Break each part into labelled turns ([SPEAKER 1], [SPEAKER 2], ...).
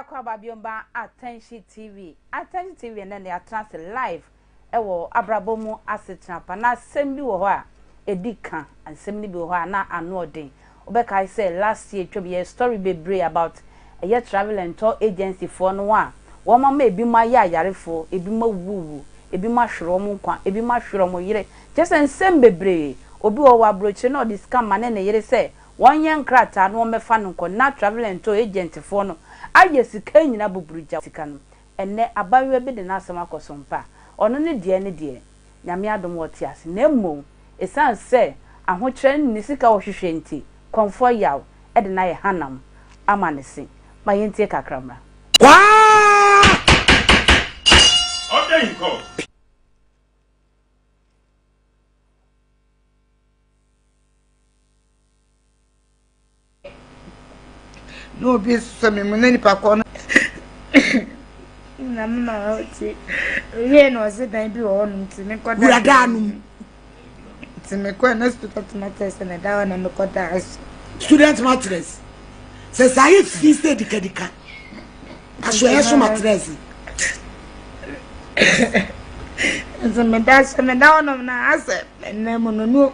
[SPEAKER 1] akɔ aba biomba attention tv attention tv ɛnɛ ne atena ase live ɛwɔ abrabɔ mu asetena pa na asɛm bi wɔ hɔ a ɛdi ka asɛm no bi wɔ hɔ a na ano ɔden Wo bɛ kae sɛ last year twam yɛyɛ story bebree about ɛyɛ travel and tour agency foɔ no a wɔn ama ebi mo ayɛ ayarefoɔ, ebi mo awuwuwu, ebi mo ahwere wɔn nkwa, ebi mo ahwere wɔn yere, kyerɛ sɛ nsɛm bebree, obi wɔ hɔ ɔwɔ abrokyire na ɔde sika ma ne ne yere sɛ wɔn nyɛ nkrataa na wɔn bɛ fa no nkɔ na travel and tour agent foɔ no ayɛ sika nyina buburu gya sika no, ɛnɛ abayewa bi de n'asɛm akɔ so mpa ɔno ne deɛ ne deɛ. Nyame adom wɔte ase na mmom ɛsiane sɛ ahokyerɛ ne sika a wɔhwehwɛ nti Kɔmfoɔ Yaw de no ayɛ hanam ama ne se. Ma yɛntie kakra mmra.
[SPEAKER 2] Kwaa!
[SPEAKER 3] na obi sɛ me mu na nipa kɔ no na me maa ɔte wie na ɔse dan bi wɔ hɔnom nti mekɔ da wura daa nom nti mekɔ na student matters na da hɔ na mekɔ da so student
[SPEAKER 2] matters sɛ saa yɛ fi sɛ dikadika aso ɛyɛ so matters
[SPEAKER 3] nti meda so meda hɔnom na asɛ ɛnna mu no no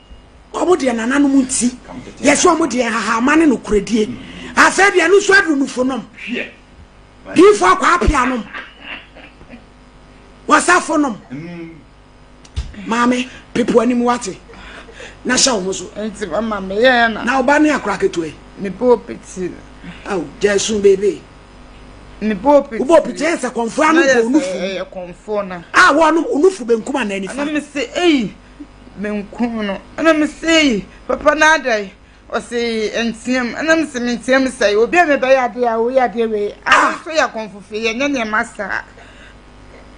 [SPEAKER 2] wɔn deɛ nananom nti yɛsɛ wɔn deɛ nhahama ne nokorɛdie asɛ deɛ no nso aduru nufo nom
[SPEAKER 4] diifo
[SPEAKER 2] akɔ apia nom wɔsafo nom maame pepo anim wate na hyɛ wɔn so nti mama meyɛ
[SPEAKER 3] na na ɔba ne akora ketewa
[SPEAKER 2] yi mebɔ piti
[SPEAKER 3] awo gya
[SPEAKER 2] esun beebe mebɔ
[SPEAKER 3] piti wobɔ piti yɛn sɛ kɔnfo
[SPEAKER 2] ano bɔ onufo
[SPEAKER 3] a wɔn onufo
[SPEAKER 2] benkum anaa nifa na mesɛ eyi
[SPEAKER 3] menkuu no. Ɛna mesee papa no adɛn? Ɔse ɛnteam. Ɛna mese menteam sɛe obi a mebɛyɛ adeɛ a woyɛ adeɛ wei ah so yɛ akɔmfofe yɛnyɛ nneɛma saa.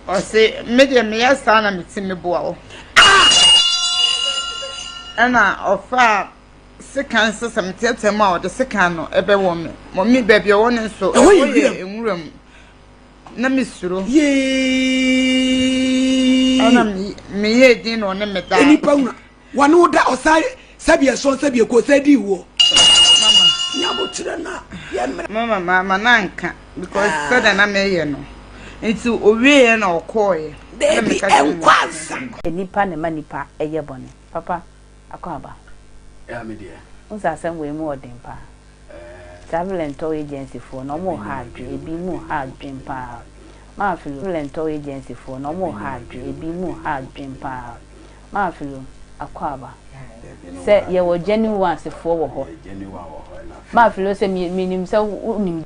[SPEAKER 3] Ɔse me deɛ meyɛ saa na mete meboa wo. Ɛna ɔfaa sekan sɛ sɛ meteateam a ɔde sekan no ɛbɛwɔ me. Mɔmi baabi ɔwɔ no nso ɛwɔ yɛ nwura mu. Na me suro. Yee.
[SPEAKER 2] Ɛna me
[SPEAKER 3] yɛ din na ɔne me da. Ɛni pa wuna.
[SPEAKER 2] Wɔne wo da ɔsa sɛbi ɛsɔn sɛbi ɛkɔ sɛ di wɔ. Mama.
[SPEAKER 3] Nyabo kyerɛ
[SPEAKER 2] na yɛ mmerɛ. Mama ma ma na
[SPEAKER 3] nka because ah. sɛ dɛ na me yɛ no. Nti owie yɛ na ɔkɔɔ yɛ. Dɛbi
[SPEAKER 2] ɛnkwansa. Nipa na ma
[SPEAKER 1] nipa ɛyɛ bɔne papa. Akwaaba,
[SPEAKER 5] wohu sɛ asɛm wei mu
[SPEAKER 1] ɔden paa. Travel and Tour Agency foɔ no, wɔn ha adwene, ebi mu ha adwene paa. Maafilo, Travel and Tour Agency foɔ no, wɔn ha adwene, ebi mu ha adwene paa. Maafilo, Akwaaba, sɛ yɛwɔ genuine ones foɔ wɔ hɔ.
[SPEAKER 5] Maafilo, sɛ
[SPEAKER 1] menim sɛ wonim.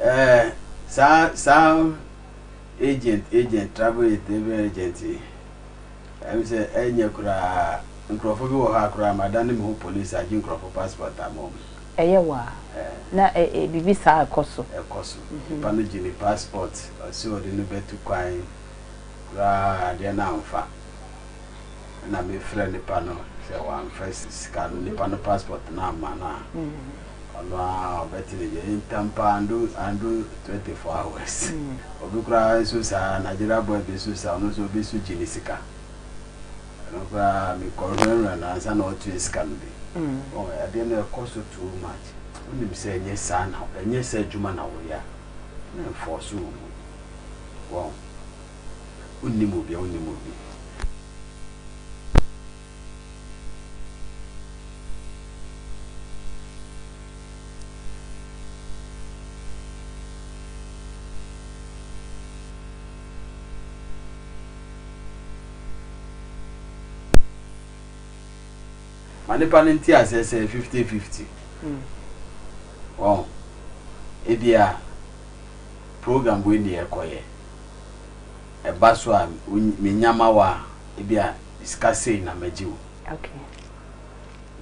[SPEAKER 5] Ɛɛ saa saa agent agent travel travel agent yi ɛm sɛ ɛnyɛ koraa nkurɔfo bi wɔ hɔ a koraa ma da ne me ho police agye nkurɔfo passport ama wɔn. Ɛyɛ wa
[SPEAKER 1] na ɛ ɛ biribi saa ɛkɔ so. Ɛkɔ so nipa
[SPEAKER 5] no gye ne passport ɔsɛ ɔde no bɛtu kwan koraa adeɛ no anfa ɛna me frɛ nipa no sɛ wɔanfa sika no nipa no passport no amma no a. Ɔno ara ɔbɛte ne deɛ. Ntam paa andu andu twenty four hours. Obi koraa nso saa Nigeria boy bi nso saa ɔno nso obi nso gye ne sika. Ɛno koraa me kɔ nwɛnwɛn no ansa na ɔtua sika no bi. Wɔn adeɛ no ɛkɔ so too much. Wonim sɛ ɛnyɛ saa na ɛnyɛ sɛ adwuma na woyɛ a na ɛnfɔɔso wo mu. Wɔn wonim obi a wonim obi. Ma nnipa no nte aseɛ sɛ fifty fifty wɔn ebia program wei ne yɛkɔyɛ ɛba so a menya ma wo a ebia me sika sei na magye wo.
[SPEAKER 1] Okay.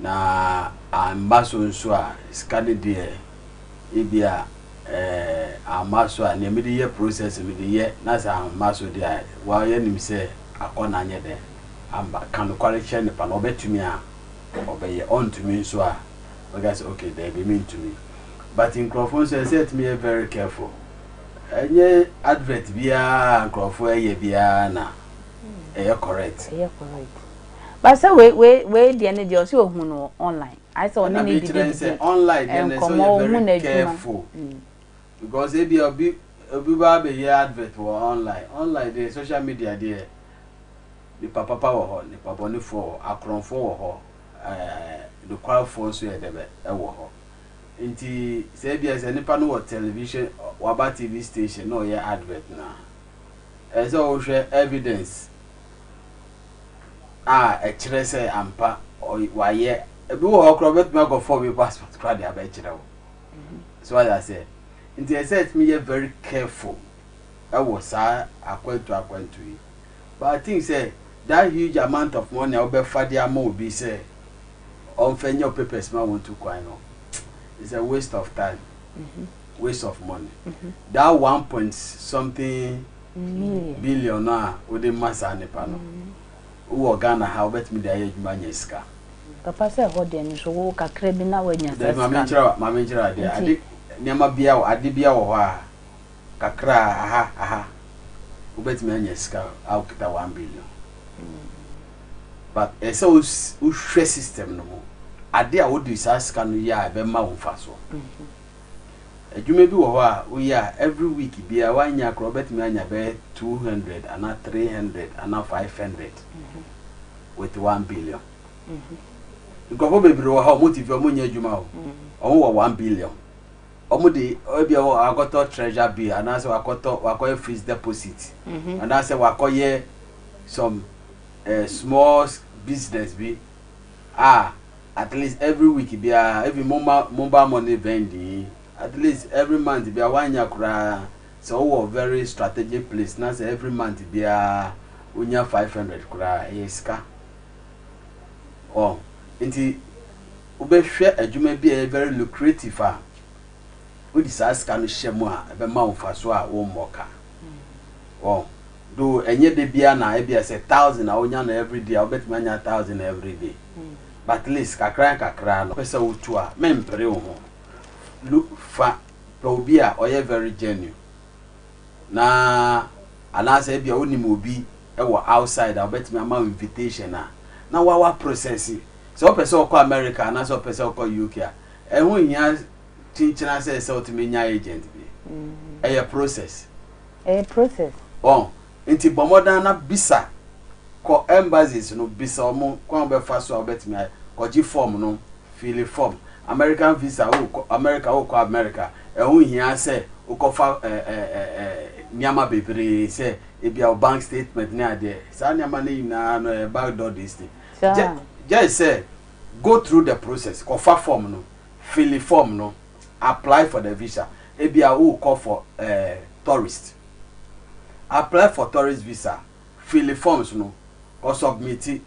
[SPEAKER 5] Na amma so nso a, sika no deɛ ebia eh, amma so a, nea mede yɛ process mede yɛ, na sɛ amma so deɛ a, wɔayɛ nim sɛ akɔ na anyɛ dɛn amba. Ka nokware kyerɛ nipa no, ɔbɛtumi a ɔbɛyɛ, ɔntumi nso a ɔbɛka sɛ okay daabi mentumi. But nkurɔfoɔ nso ɛsɛ sɛ yɛtumi yɛ very careful. Ɛnyɛ advert biara a nkurɔfoɔ ɛyɛ biara na ɛyɛ correct ɛyɛ correct
[SPEAKER 1] ba sɛ wei wei wei deɛ ne deɛ ɔsɛ ohun no online ayɛ sɛ ɔne ne didi didi online deɛ
[SPEAKER 5] na ɛsɛ ɔyɛ very careful mm. because ebi obi obi ba abɛyɛ advert wɔ online online deɛ social media deɛ nipa papa wɔ hɔ nipa bɔnefoɔ wɔ hɔ akorɔmfoɔ wɔ hɔ ɛɛ nokwafoɔ nso yɛ dɛbɛ ɛwɔ hɔ nti sɛ ebi sɛ nipa no wɔ television waba tv station na ɔyɛ advert na. ɛsɛ sɛ wohwɛ evidence a ɛkyerɛ sɛ ampa wayɛ ebi wɔ hɔ koraa wobɛtumi akɔfa obi passport koraa de abɛkyerɛ wo so wayɛ aseɛ nti ɛsɛ sɛ ɛtumi yɛ very careful ɛwɔ saa akwantu akwantu yi but I think sɛ that huge amount of money a wobɛfa de ama obi sɛ ɔmfa nyɛ wo papers ma wɔntu kwan no is a waste of time mm -hmm. waste of money mm-hmm. that one point something million billion no a wode ma saa nipa no mm-hmm. wowɔ ghana ha wobɛtumi de ayɛ adwuma anya sika papa sɛ
[SPEAKER 1] ɛhɔ deɛ no so wo kakra bi na woanya saa sika mame
[SPEAKER 5] nkyerɛ adeɛ ade nneɛma bia wɔ ade bia wɔ hɔ a kakra aha aha wobɛtumi anya sika a wokita one billion mm. but ɛsɛ wohwɛ system no mu ade a wode saa sika no yɛ a ɛbɛma wo mfa soɔ mm-hmm. Adwuma bi wɔ hɔ a wo yɛ a every week biaa wo annya koraa wobɛtumi anya bɛyɛ two hundred anaa three hundred anaa five hundred with one billion nkurɔfoɔ bebree wɔ ha ɔmo te fie ɔmo nyɛ adwuma o ɔmo wɔ one billion ɔmo de ebi a wakɔtɔ treasure bill anaasɛ wakɔtɔ wakɔyɛ fixed deposit mhm. anaasɛ wakɔyɛ some uh, small business bi a at least every week biara even momma mobile money vending yi at least every month biara woannya koraa sɛ wowɔ very strategic place na sɛ every month biara wonya 500 koraa ɛyɛ sika ɔ nti wobɛhwɛ adwuma bi a ɛyɛ very lucrative a wode saa sika no hyɛ mu a ɛbɛma wo mfaso a wommɔ ka ɔ though ɛnyɛ da biara na ebia sɛ thousand a wonya no everyday a wobɛtumi anya thousand everyday but least kakra nkakra no pɛ sɛ wotu a mempere wo ho lu fa pɛ obi a ɔyɛ very genuine na anaasɛ ebia wonim obi wɔ outside a wobɛtumi ama invitation a na wawa process sɛ wopɛ sɛ ɔkɔ America anaasɛ ɔpɛ sɛ ɔkɔ UK a ɛho hia kyenkyena sɛ sɛ wotumi nya agent bi ɛyɛ process. Ɛyɛ process. Wɔn nti bɔ mmɔdan na bisa kɔ embassies no bisa wɔn kwan a wobɛfa so a wobɛtumi ayɛ kɔgye form no fili form American visa worekɔ America worekɔ America ɛho nhia sɛ wokɔfa nneɛma bebree sɛ ebia wo bank statement ne adeɛ saa nneɛma no nyinaa no ɛyɛ back door this thing just sɛ go through the process kɔfa form no fili form no. apply for the visa ebia worekɔ for eh tourist apply for tourist visa fili forms no kɔ submiti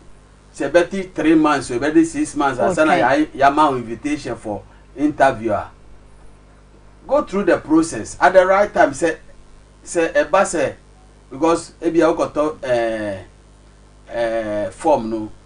[SPEAKER 5] sɛ ɛbɛte three months o ɛbɛde six months ansa na Okay. yɛa- yɛama wo invitation for interview a go through the process at the right time sɛ sɛ ɛba sɛ because ebia wokɔtɔ eh eh form no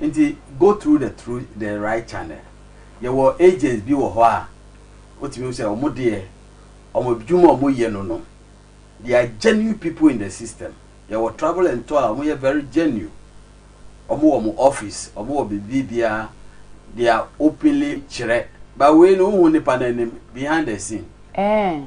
[SPEAKER 5] Nti go through the through the right channel. Yɛwɔ agents bi wɔ hɔ a wotumi hu sɛ wɔn deɛ wɔn adwuma a wɔyɛ no no they are genuine people in the system. Yɛwɔ travel and tour a wɔyɛ very genuine. Wɔn wɔ wɔn office, wɔn wɔ biribi biara they are openly kyerɛ. But wei no wohu nipa no anim behind the scene. Ɛɛ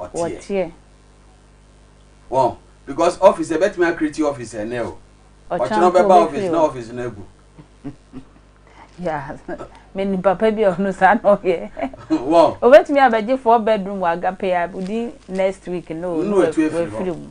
[SPEAKER 5] ɔteɛ.
[SPEAKER 1] Wɔteɛ.
[SPEAKER 5] Wɔn because office ɛbɛtumi akiriti office ɛnɛ o. Ɔkyerɛ no bɛba office na office no agu.
[SPEAKER 1] meni papa bi a ɔno saa na ɔyɛ obetumi
[SPEAKER 5] abɛgye
[SPEAKER 1] four bedroom wɔ agape a wodi next week no no wafiri mu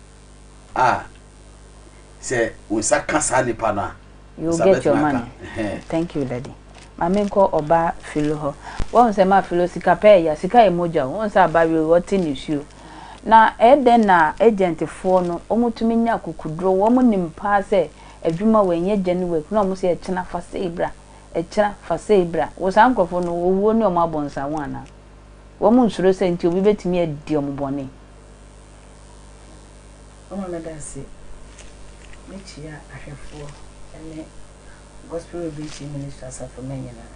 [SPEAKER 5] a, sɛ wo nsa ka saa nipa no a, wo nsa bɛtumi aka.
[SPEAKER 1] Ɛhɛn. Thank you daddy. Ma me nkɔ ɔba Philo hɔ. Wahu sɛ ma Philo sika pɛ ɛya, sika yɛ mogya o. Wahu sɛ aba wie o, ɔte nisuo. Na ɛyɛ dɛn na agent foɔ no, wɔn tumi nya akukuduro, wɔn nim paa sɛ adwuma wei nyɛ gya ne wei, na wɔn sɛ ɛkyena fa sei bra, ɛkyena fa sei bra. Wo saa nkorɔfoɔ no, owuo ne wɔn abɔ nsaho anaa? Wɔn nsuro sɛ nti obi bɛtumi adi wɔn bɔne?
[SPEAKER 2] Mama me danse. Mekyia ahwɛfoɔ ne Gospel Revelation Ministry asafo mma nyinaa.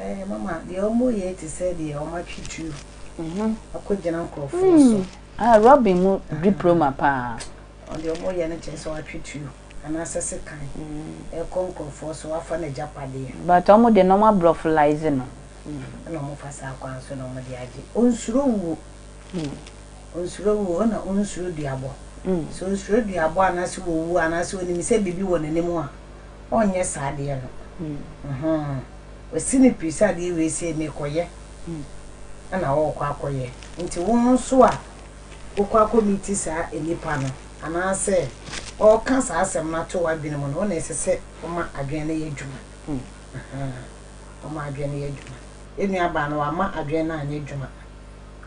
[SPEAKER 2] Ɛɛ mama, deɛ wɔyɛ te sɛ deɛ wɔatwe tuo mhm. akɔgyina nkurɔfoɔ so. Hmm. Ah, Robin mu
[SPEAKER 1] diploma paa. Ɔde wɔyɛ
[SPEAKER 2] no kyerɛ sɛ wɔatwe tuo anaasɛ sekan hmm. ɛkɔ nkurɔfoɔ so wafa no agyapadeɛ. But wɔn de na
[SPEAKER 1] wɔabrɔfolise no. Ɛna ɔmo fa
[SPEAKER 2] saa kwan so na ɔmo de agye. Onsuro wuo. Onsuro wuo ɛna onsuro duabɔ. Sɛ osuro duabɔ anaasɛ owu anaasɛ onim sɛ biribi wɔ n'anim a, ɔnyɛ saa adeɛ no. Wasi ne piri sɛ adeɛ wei sei mekɔyɛ ɛna ɔɔkɔ akɔyɛ. Nti wo nso a wokɔ akɔ meeti saa nnipa no anaasɛ ɔɔka saa asɛm no ato w'adwene mu no, wo na ɛsɛ sɛ woma adwene no yɛ adwuma. Ahaa ɔma adwen no yɛ adwuma. Yɛn nua baa no wama adwen no anyɛ adwuma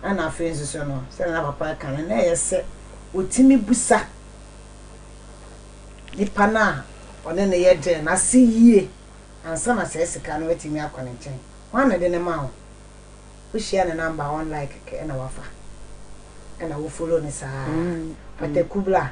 [SPEAKER 2] ɛna afei nso so no sɛdeɛ na papa ɛka no na ɛyɛ sɛ ɔtumi busa nipa no a ɔne no yɛ deal no ase yie ansa na saa sika no atumi akɔ ne nkyɛn. Hwan na ɛde no maa wo? Wo hyia ne number a ɔn like kɛkɛ ɛna wafa ɛna wo follow no saa pataku bla.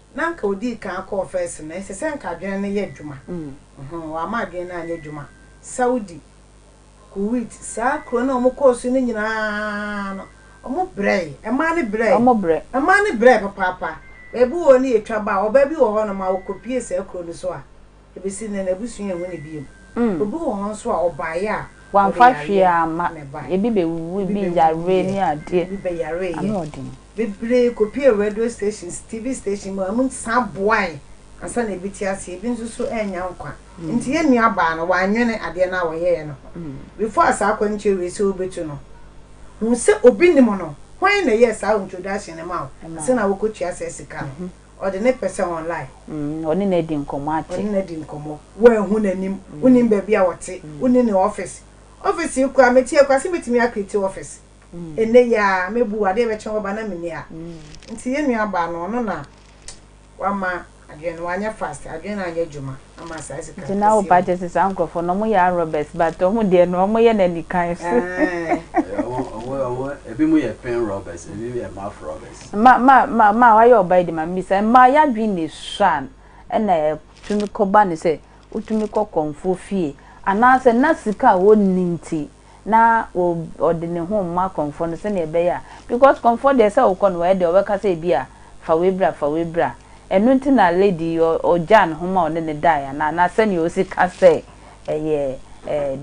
[SPEAKER 2] na anka odii kan akɔɔ first no ɛsɛ sɛ anka adwene no yɛ adwuma uhmm wama adwene no anyɛ adwuma Saudi, Kuwait saa kuro no a wɔn kɔɔ so no nyinaa no wɔn brɛɛ ɛmaa no brɛɛ ɛmaa no brɛɛ papaapa baabi wɔ hɔ no yɛtwa baa ɔbaa bi wɔ hɔ nom a ɔkɔ pue saa kuro no so a Ebesi nnɛ n'abusua nhu no bio. Obi wɔ hɔ nso a ɔbaeɛ a ɔde yareɛ
[SPEAKER 1] na ɛbaeɛ. Ebi bɛwuwuiɛ, ebi bɛyareeɛ.
[SPEAKER 2] Bebree kɔpuee radio stations,
[SPEAKER 1] TV
[SPEAKER 2] stations mu a wɔsan boae ansa na ebi te aseɛ, ebi nso so annya nkwa. Enti yɛn nuabaa no, wannwene adeɛ no a wɔyɛeɛ no ho. Before saa akwantuo wei sɛ wobɛtu no, hu sɛ obi nim no. Hwan na ɛyɛɛ saa introduction no ma wo ansa na wokɔtua saa sika no? Ɔde ne pɛ sɛ online. Mm, ɔne no adi
[SPEAKER 1] nkɔmmɔ ate. Ɔne no adi nkɔmmɔ.
[SPEAKER 2] Woanhu n'anim, wonim baabi a ɔte, wonni ne ɔfese. Ɔfese yi koraa, mete akura sɛ mɛtumi akrieti ɔfese. Ɛnnɛ yi ara, mɛbu wo, adeɛ bɛkye wɔba na menni ha. Nti yɛn nuabaa no, ɔno na wama adwene no, wanyɛ fast, adwene no anyɛ adwuma. Nti na wo ba kyɛ sɛ saa
[SPEAKER 1] nkorɔfoɔ no ɔmo yɛ arɔbɛs but ɔmo deɛ no ɔmo yɛ no anikan so.
[SPEAKER 5] Ebi mo yɛ pen rɔbɛs ebi mo yɛ maf rɔbɛs. Maa wayɛ
[SPEAKER 1] ɔbaa yi de mame bisa mmaa yadwen na esua ɛna ɛtumi kɔba no sɛ wotumi kɔ kɔmfoɔ fie anaasɛ na sika a wɔnni nti na ɔde ne ho rema kɔmfoɔ no sɛdeɛ ɛbɛyɛ a, because kɔmfoɔ deɛ sɛ wokɔ no wayɛ dɛ ɔbɛka sɛ ebi a fa wei bra fa wei bra, ɛno nti na lady yi ɔgyaa ne ho ma ɔne no daeɛ anaa? Anaa sɛdeɛ ɔsi ka sɛ ɛyɛ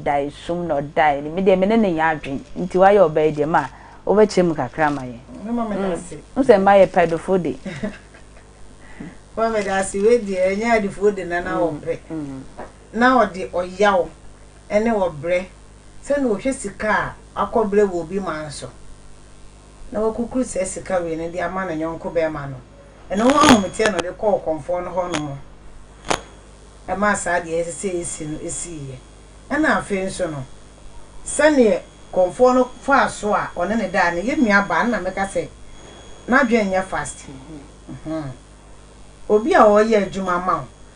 [SPEAKER 1] daesum na ɔdaeɛ no, me deɛ me ne no nyɛ adwene, nti wayɛ ɔbaa yi deɛ ma wobɛkyerɛ mu kakra ama yɛn. Mema me da ase.
[SPEAKER 2] Wohu sɛ mmaa yɛ pɛdofoɔ
[SPEAKER 1] de. Mema
[SPEAKER 2] me da ase, wei deɛ ɛnyɛ adefoɔ de na na wɔpɛ. na ɔde ɔyaw ne ɔbrɛ sɛ na ɔhwɛ sika a wakɔbrɛ wɔ obi man so na wakukuru saa sika wei no de ama ne yɔnko barima no, ɛno ho ahometeɛ na ɔde kɔɔ kɔmfoɔ no hɔ nom maa saa deɛ ɛsɛ sɛ ɛsi no siiɛ. Ɛna afei nso no, sɛdeɛ kɔmfoɔ no faa so a ɔne ne daa no, yɛn nuabaa no na mɛka sɛ n'adwene nyɛ fast. Obi a ɔreyɛ adwuma ma wo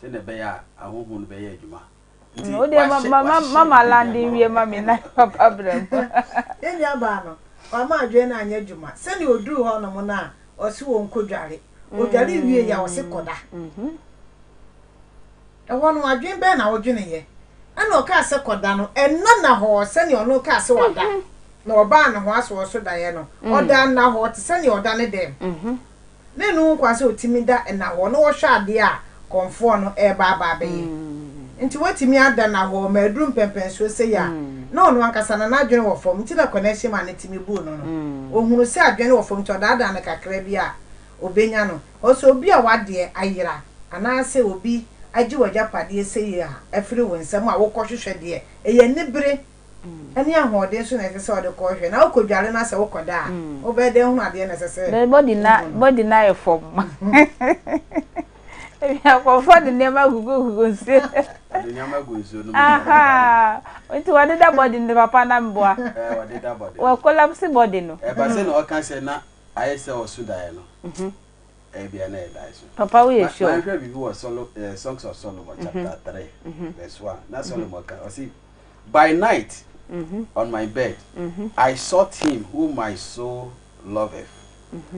[SPEAKER 5] Sɛnea ɛbɛyɛ a ahɔho no bɛyɛ adwuma. Nti Wo deɛ ma wahyɛ
[SPEAKER 1] ma ma wahyehyɛ ma ma biribi lande ama nwie wo. ma me na papa bra mu. Yɛn nuabaa
[SPEAKER 2] no, wama adwene no anyɛ adwuma. Sɛnea ɔduruu hɔnom no a, ɔse wɔnkɔdware. Ɔdwaree wieeɛ a, ɔse kɔda. Ɛhɔ no, adwene bɛn na wodweneeɛ? Ɛnna ɔkaa sɛ kɔda no, ɛnna Nahor sɛnea ɔno rekaa sɛ wada, na ɔbaa ne ho asoɔ so daeɛ no, ɔdaa Nahor te sɛnea ɔda ne dɛm. Ne nnu ho kwan sɛ otumi da nnahɔɔ na ɔhwɛ adeɛ a kɔmfoɔ no reba aba abɛyɛ. Nti watumi ada nnahɔɔ ma aduru mpɛnpɛnsoɔ sei a, na ɔno ankasa no n'adwene wɔ fam nti na kɔnɛɛhye maa ne tumi buu no no. Ɔhunuu sɛ adwene no wɔ fam nti ɔdaadaa no kakra bi a ɔbɛnya no. Ɔse obi a w'adeɛ ayera anaasɛ obi agye w'agyapadeɛ sei a afiri wo nsam a wokɔhwehwɛ deɛ ɛyɛ anibere ne ahoɔden nso na ɛsɛ sɛ ɔde kɔ hwɛ na wokodware na sɛ wokɔda a wobɛyɛ dɛn hunu adeɛ na ɛsɛ sɛ na body na body na
[SPEAKER 1] yɛ fam ebi akɔfɔ de nneɛma gugu gugu nsuo ɔde nneɛma gu
[SPEAKER 5] nsuo
[SPEAKER 1] no mu nti wɔde da body no papa na mboa ɛɛ wɔde da body
[SPEAKER 5] wɔ collapse body
[SPEAKER 1] no ɛba sɛ na ɔka sɛ
[SPEAKER 5] na ayɛ sɛ ɔso daeɛ no mhm. Ebia na ɛyɛ dae so. Papa woyɛ sure? Ma yɛnhwɛ
[SPEAKER 1] biribi wɔ Solo,
[SPEAKER 5] eh, Songs of Solomon chapter three verse one. Na Solomon ka, ɔse, By night on my bed I sought him whom my soul loveth,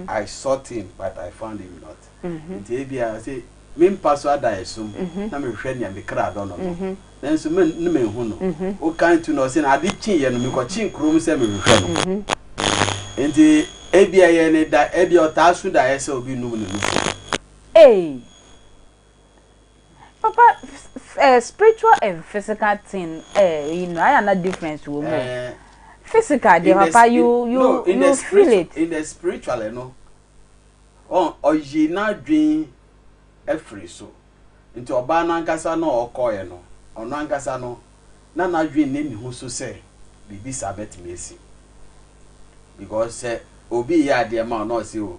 [SPEAKER 5] I sought him but I found him not. Nti ebia ɔse, me mpa so adaeso mu na mehwehwɛ nea me kra dɔ no no, Nanso me ne manhu no. Wokan tu no, ɔse na ade kyeeɛ no, mekɔkyee kurom sɛ merehwɛ no. Enti ebia ɛyɛ ne da, ebia ɔtaa su daeɛ sɛ obi nnum ne nufu.
[SPEAKER 1] Eii papa eh, spiritual and physical thing eh, you know, ayɛ na difference wɔ mu o. Eh, Physical deɛ in the papa spi- you you no, in the you feel spiritual, it. in the spiritual
[SPEAKER 5] no, ɔ- ɔyi n'adwen afiri so. Enti ɔbaa no ankasa no a ɔkɔeɛ no, ɔno ankasa no, na n'adwene nni ne ho so sɛ biribi saa bɛtumi asi. Because sɛ obi reyɛ adeɛ ma wo na ɔse o,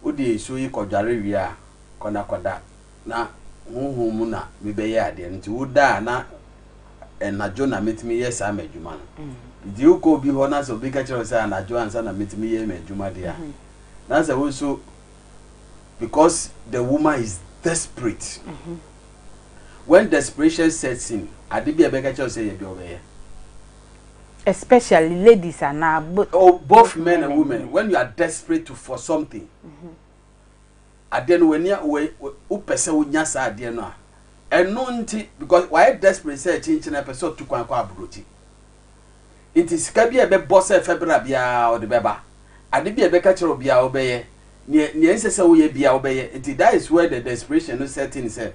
[SPEAKER 5] wode nsuo yi kɔdware wie a, kɔ na kɔda na honhom mu na mebɛyɛ adeɛ no nti woda a na anadwo na mɛtumi yɛ saa m'adwuma no. Nti wokɔ obi hɔ na sɛ obi ka kyerɛ wo sɛ anadwo ansa na mɛtumi yɛ m'adwuma deɛ a, na sɛ wo nso because the woman is desperate when desperation sets in ade bi a ɛbɛka kyerɛ sɛ yɛ deɛ ɔbɛyɛ especially
[SPEAKER 1] ladies and uh, both, oh, both men
[SPEAKER 5] and women when you are desperate to for something mm-hmm. adeɛ no w'ani wopɛ sɛ wonya saa adeɛ no a ɛno nti because wayɛ desperate sɛ kyinkyina pɛ sɛ ɔtu kwan kɔ aburokyi Enti sika bi a ɛbɛbɔ sɛ fa bra biara, ɔde bɛba. Ade bi a ɛbɛka kyerɛ wo biara, wobɛyɛ. Nea, nea ɛnsɛ sɛ woyɛ biara, wobɛyɛ. Enti that is where the desperation no set in sɛ,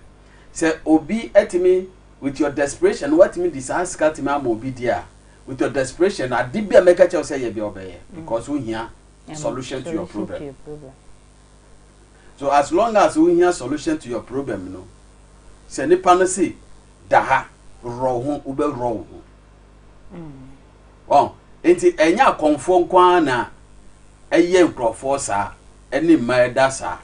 [SPEAKER 5] sɛ obi atumi, with your desperation no, woatumi de saa sika atumi ama obi deɛ a, with your desperation no, ade bi a mɛka kyerɛ wo sɛ yɛ biara, wobɛyɛ. Because wohia solution to your problem. So as long as wohia solution to your problem no, sɛ nipa no se, da ha, worɔ wo ho, wobɛworɔ wo ho. wɔn nti ɛnyɛ akɔnfoɔ nko ara na ɛyɛ nkurɔfoɔ saa ɛne mma ɛda saa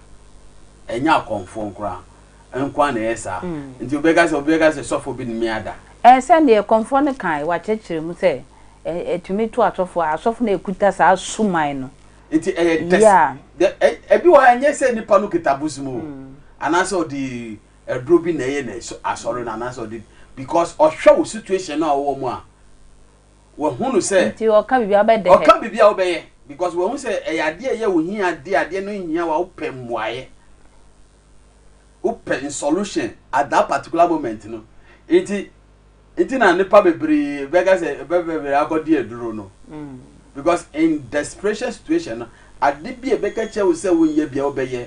[SPEAKER 5] ɛnyɛ akɔnfoɔ nko ara nko ara na ɛyɛ saa mm. nti obi ka sɛ obi ka sɛ sɔfo bi nimi ada. ɛɛ sɛ deɛ kɔnfoɔ
[SPEAKER 1] no kan wakyerɛkyerɛ mu sɛ ɛtumi to asɔfo a asɔfo na ekuta saa suman no. nti ɛyɛ
[SPEAKER 5] test ɛbi wɔ ha ɛnyɛ sɛ nipa no kita bosom o mm. anaasɛ ɔde aduro bi na ɛyɛ no asɔre no anaasɛ ɔde because ɔhwɛ wo situation no a ɔwɔ mu a wahu no sɛ nti ɔka biribi abɛdɛ
[SPEAKER 1] ɔka biribi a wobɛyɛ
[SPEAKER 5] because wahu sɛ ɛyɛ adeɛ ɛyɛ wo hia adeɛ adeɛ no hia wa wopɛ mmuaeɛ wopɛ solution at that particular moment no nti nti na nipa bebree bɛka sɛ bɛbɛbɛrɛ akɔdi aduro no mm. because in desperation situation no ade bi a ɛbɛka kyerɛ wo sɛ wonyɛ bia wobɛyɛ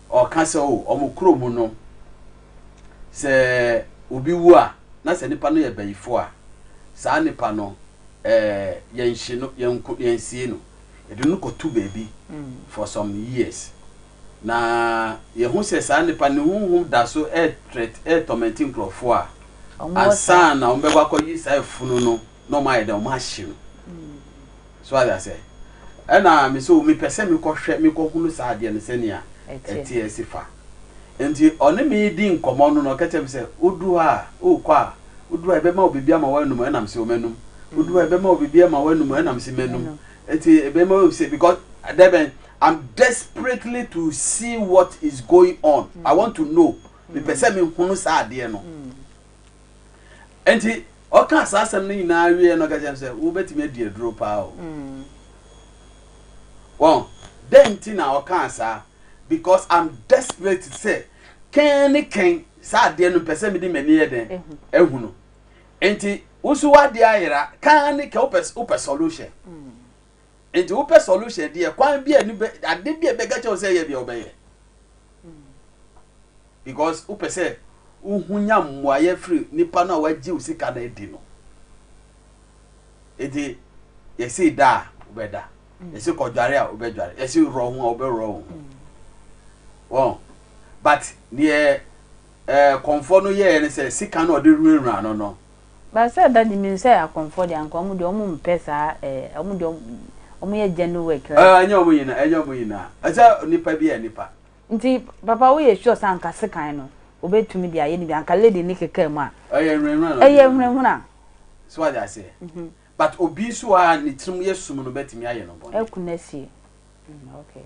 [SPEAKER 5] Ɔka sɛ, O, wɔn kuro mu no, sɛ obi wu a, na sɛ nipa no yɛ bayifoɔ a, saa nipa no, eh, yɛnhye no, yɛnko, yɛnsie no. Yɛde no kɔto baabi for some years. Na yɛhu sɛ saa nipa ne honhom da so ɛɛtrɛt, ɛɛtɔmɛnte nkurɔfoɔ a, ansa na wɔbɛkɔ akɔyi saa afunu no. na ɔmo ayɛ dɛ ɔmo ahye no so ayɛ asɛ ɛna me so mepɛ sɛ mekɔhwɛ mekɔhunu saa adeɛ no sɛnea ɛteɛ asi fa nti ɔne me di nkɔmmɔ no na ɔka kyerɛ me sɛ wodu hɔ a wokɔ a wodu hɔ a ɛbɛma wo biribi ama woanum ɛnam sɛ ɔmanum wodu hɔ a ɛbɛma wo biribi ama woanum ɛnam sɛ manum ɛti ɛbɛma wo sɛ because dɛbɛn I'm desperately to see what is going on I want to know mepɛ sɛ mehunu saa adeɛ no Enti ɔkaa saa asɛm no nyinaa wieɛ no ɔka kyerɛ m sɛ wobɛtumi adi aduro paa o. Mm. Wɔn dɛn nti na ɔkaa saa? Because I'm desperate sɛ kɛn ne kɛn saa adeɛ no mpɛ sɛ mede m'ani yɛ dɛn ehu no. Enti wosu wadeɛ ayera kan ne kɛn wopɛ solution. Mm. Nti wopɛ solution deɛ kwan bi a ni bɛ ade bi a bɛka kyɛw sɛ yɛ deɛ ɔbɛyɛ. Because wopɛ sɛ wohu nya mmuaeɛ firi nipa no a wagye wo sika no adi no. Nti yɛsi da a wobɛda. Yɛsi kɔdware a wobɛdware. Yɛsi worɔ ho a wobɛworɔ wo ho. Wɔn. But deɛ ɛɛ kɔnfɔ no yɛɛ ne sɛ sika no ɔde wurawura no no. But sɛ daddy
[SPEAKER 1] me nsɛ akɔnfoɔ deɛ anka ɔmo deɛ ɔmo mpɛ saa ɛɛ ɔmo deɛ ɔmo yɛ genu work right. Ɛɛ ɛnyɛ ɔmo nyinaa ɛnyɛ
[SPEAKER 5] ɔmo nyinaa ɛsɛ nipa bi yɛ nipa. Nti papa
[SPEAKER 1] wo yɛ sure sɛ anka sekan no ɔbɛ tumi de ayɛ ne bi anka lady ne kekaa mu a. Ɛyɛ nhunahuna na ɔde yɛ. Ɛyɛ nhunahuna. So wate aseɛ
[SPEAKER 5] but obi nso a ne tirim yɛ sum no bɛ tumi ayɛ no bɔne. Ɛku no asie mm
[SPEAKER 1] okay.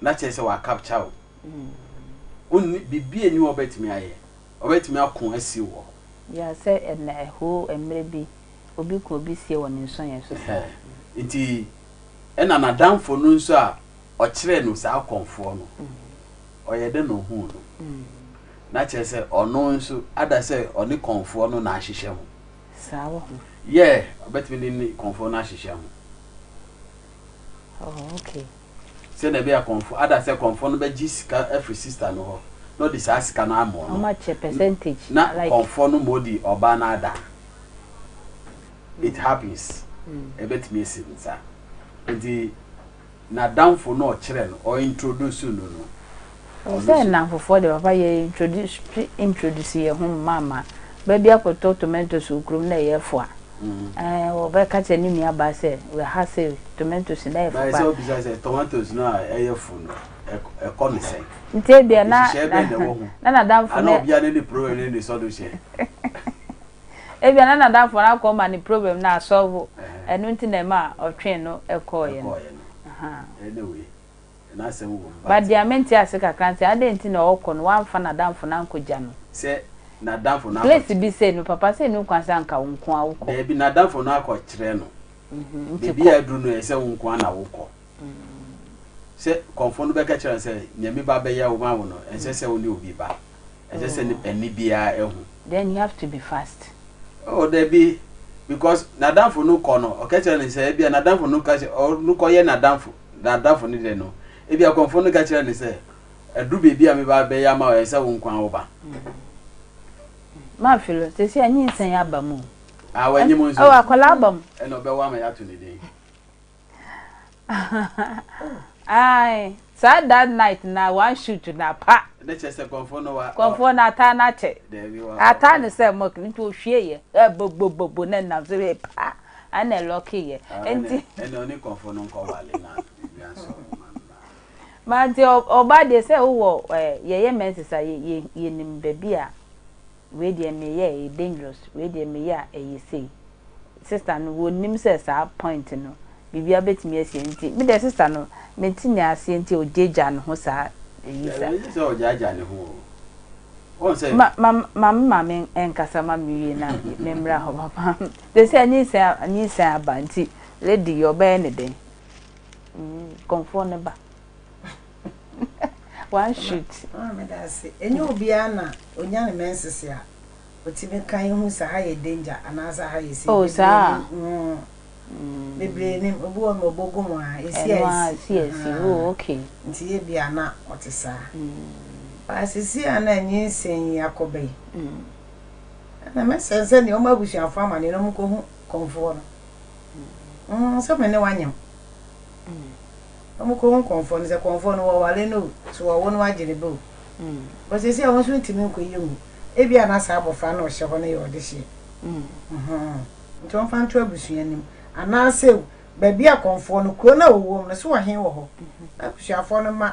[SPEAKER 5] na kyerɛ sɛ wɔakapkya wo. Wonni biribi a nni hɔ ɔbɛtumi ayɛ, ɔbɛtumi ako asiw wɔ hɔ. Ya sɛ
[SPEAKER 1] ɛnna ɛhoo mmerɛ bi obi ko obi sie wɔ ne nsɔeɛ so saa. Nti
[SPEAKER 5] ɛnna n'adamfo no nso a ɔkyerɛɛ no saa kɔmfoɔ no, ɔyɛ dɛ na ɔhuu no. Na kyerɛ sɛ ɔno nso ada sɛ ɔne kɔmfoɔ no na ahyehyɛ ho. Saa wɔ
[SPEAKER 1] ho. Yɛ, ɔbɛtumi
[SPEAKER 5] ne ne kɔmfoɔ no ahyehyɛ ho.
[SPEAKER 1] Oh, okay. Sɛnea ɛbɛyɛ
[SPEAKER 5] a kɔmfo, ada sɛ kɔmfo no bɛgye sika afiri sista no hɔ, na ɔde saa sika no ama ɔno.
[SPEAKER 1] Wɔakyɛ
[SPEAKER 5] percentage. Na like.
[SPEAKER 1] kɔmfo
[SPEAKER 5] no ma odi ɔbaa no ada. It happens. Ɛbɛtumi asi no saa. Nti, n'adamfo no a ɔkyerɛ no, ɔintroduce no no, Ɔwɔ sɛ nnamfofoɔ
[SPEAKER 1] de papa yɛ introduce introduce yɛn ho mma mma. Ba bi akɔtɔ tomatoes wɔ kurom na ɛyɛ fua. Ɛɛ ɔbɛka kyerɛ ne nua baa sɛ wɔ ha se tomatoes no ɛyɛ fua paa. Baa sɛ ɔbisa sɛ tomatoes
[SPEAKER 5] no a ɛyɛ fu no ɛkɔ ne sɛn? Nti ebia na nhyehyɛɛ
[SPEAKER 1] bɛn na ɛwɔ ho? Na n'adamfo no. Ana obia ne ne problem
[SPEAKER 5] ne ne sɔ no hyɛ?
[SPEAKER 1] Ebia na n'adamfo no akɔ ma ne problem no asɔlvo ɛno nti na ɛma ɔtwee no kɔɔeɛ no. Ɛkɔɔeɛ no. Anyway.
[SPEAKER 5] But deɛ mente ase
[SPEAKER 1] kakra ne sɛ adɛn nti na ɔɔkɔ no w'amfa n'adamfo no ankɔ gya no?
[SPEAKER 5] Place bi sɛ no papa
[SPEAKER 1] sɛ nni kwan sɛ anka wo nkoaa wokɔ. Daabi n'adamfo no akɔ
[SPEAKER 5] kyerɛ no baabi a aduru no ɛyɛ sɛ wo nkoaa na wokɔ. Sɛ kɔmfo no bɛka kyerɛ no sɛ nyame ba bɛyɛ wo ma wo no ɛnsɛ sɛ wo ne obi ba ɛnsɛ sɛ ɛne biaa ɛhu. Then you have to be
[SPEAKER 1] fast. Oh daabi
[SPEAKER 5] because n'adamfo no kɔ no ɔka kyerɛ no sɛ ɛbia n'adamfo no ka sɛ ɔno kɔ yɛ n'adamfo n'adamfo no dɛ no, ebia kɔmfo no ka kyerɛɛ no sɛ, Adu beebi a me ba bɛyɛ ama wo, ɛsɛ sɛ wo nkoaa wo ba.
[SPEAKER 1] M'afe lo, sesei anyinsɛn aba mu o. Aa w'anyi mu nso. Ɛwɔ
[SPEAKER 5] akwadaa aba mu. Ɛna
[SPEAKER 1] ɔbɛwo ama yɛato
[SPEAKER 5] ne din.
[SPEAKER 1] Ae, saa that night na one shoot na pa. Ne kyɛ sɛ kɔmfo
[SPEAKER 5] no wa. Kɔmfo no ataa no
[SPEAKER 1] akyɛ. Daabi wa. Ataa no
[SPEAKER 5] sɛ mɔk,
[SPEAKER 1] nti ohwie yɛ, ɛ bo bo bo bo na nam so hwɛ paa. Ana lucky yɛ nti. Ɛnɛ ɔne kɔnfo no
[SPEAKER 5] nkɔ wale na wia sɔ ɔmo
[SPEAKER 1] ma no na. Mate ɔbaa deɛ sɛ wowɔ yɛyɛ menses a yɛnim baabi a wei deɛ meyɛ ɛyɛ dangerous wei deɛ meyɛ a ɛyɛ sei sister no wɔnim sɛ saa point no biribiara bɛtumi asie nti me deɛ sister no mente ne aseɛ nti ɔgyagya ne ho saa ɛyi saa. Ɛyɛ sɛ ɔgyagya ne
[SPEAKER 5] ho o. Wɔn sɛ. Ma ma ma me
[SPEAKER 1] maame nkasa ma me wie na me mmra hɔ papa. Te sɛ nyinsɛn a nyinsɛn aba nti lady yi ɔbɛyɛ ne dɛn? Kɔmfoɔ no ba one shoot. Maame da ase.
[SPEAKER 2] Ɛnyɛ obiara na ɔnya ne menses a ɔtumi ka yɛ hu sɛ ha yɛ danger anaasɛ ha yɛ safe. Oh saa a. Bebree nim. Obi wɔ hɔ nom ɔbɔ gu mu a ɛsi a ɛsi. Ɛno a ɛsi a ɛsi oh okay.
[SPEAKER 1] Nti yɛ bi a na
[SPEAKER 2] ɔte saa. But seesei a na nyinsɛn yi akɔ bɛ yi. Na mɛsɛe sɛdeɛ wɔn abusuafoɔ amaneɛ na wɔkɔhu kɔmfoɔ no, mm, sɛ me ne wanyɛ ho. Na wɔkɔhu kɔmfoɔ no, sɛ kɔmfoɔ no wɔware no o, so wɔwo no agye ne ba o. Bɔ sɛsi a wɔn nso ntumi nkɔyɛ ngu. Ebi a na saa abɔfra no ɔhyɛ hɔ no yɛ ɔde hyeɛ. Mm-hmm. Nti wɔmfa nto abusua no mu. Anaasɛ o, baabi a kɔmfoɔ no, kuro no a wɔwom no, so ɔhen wɔ hɔ. Na abusuafoɔ no ma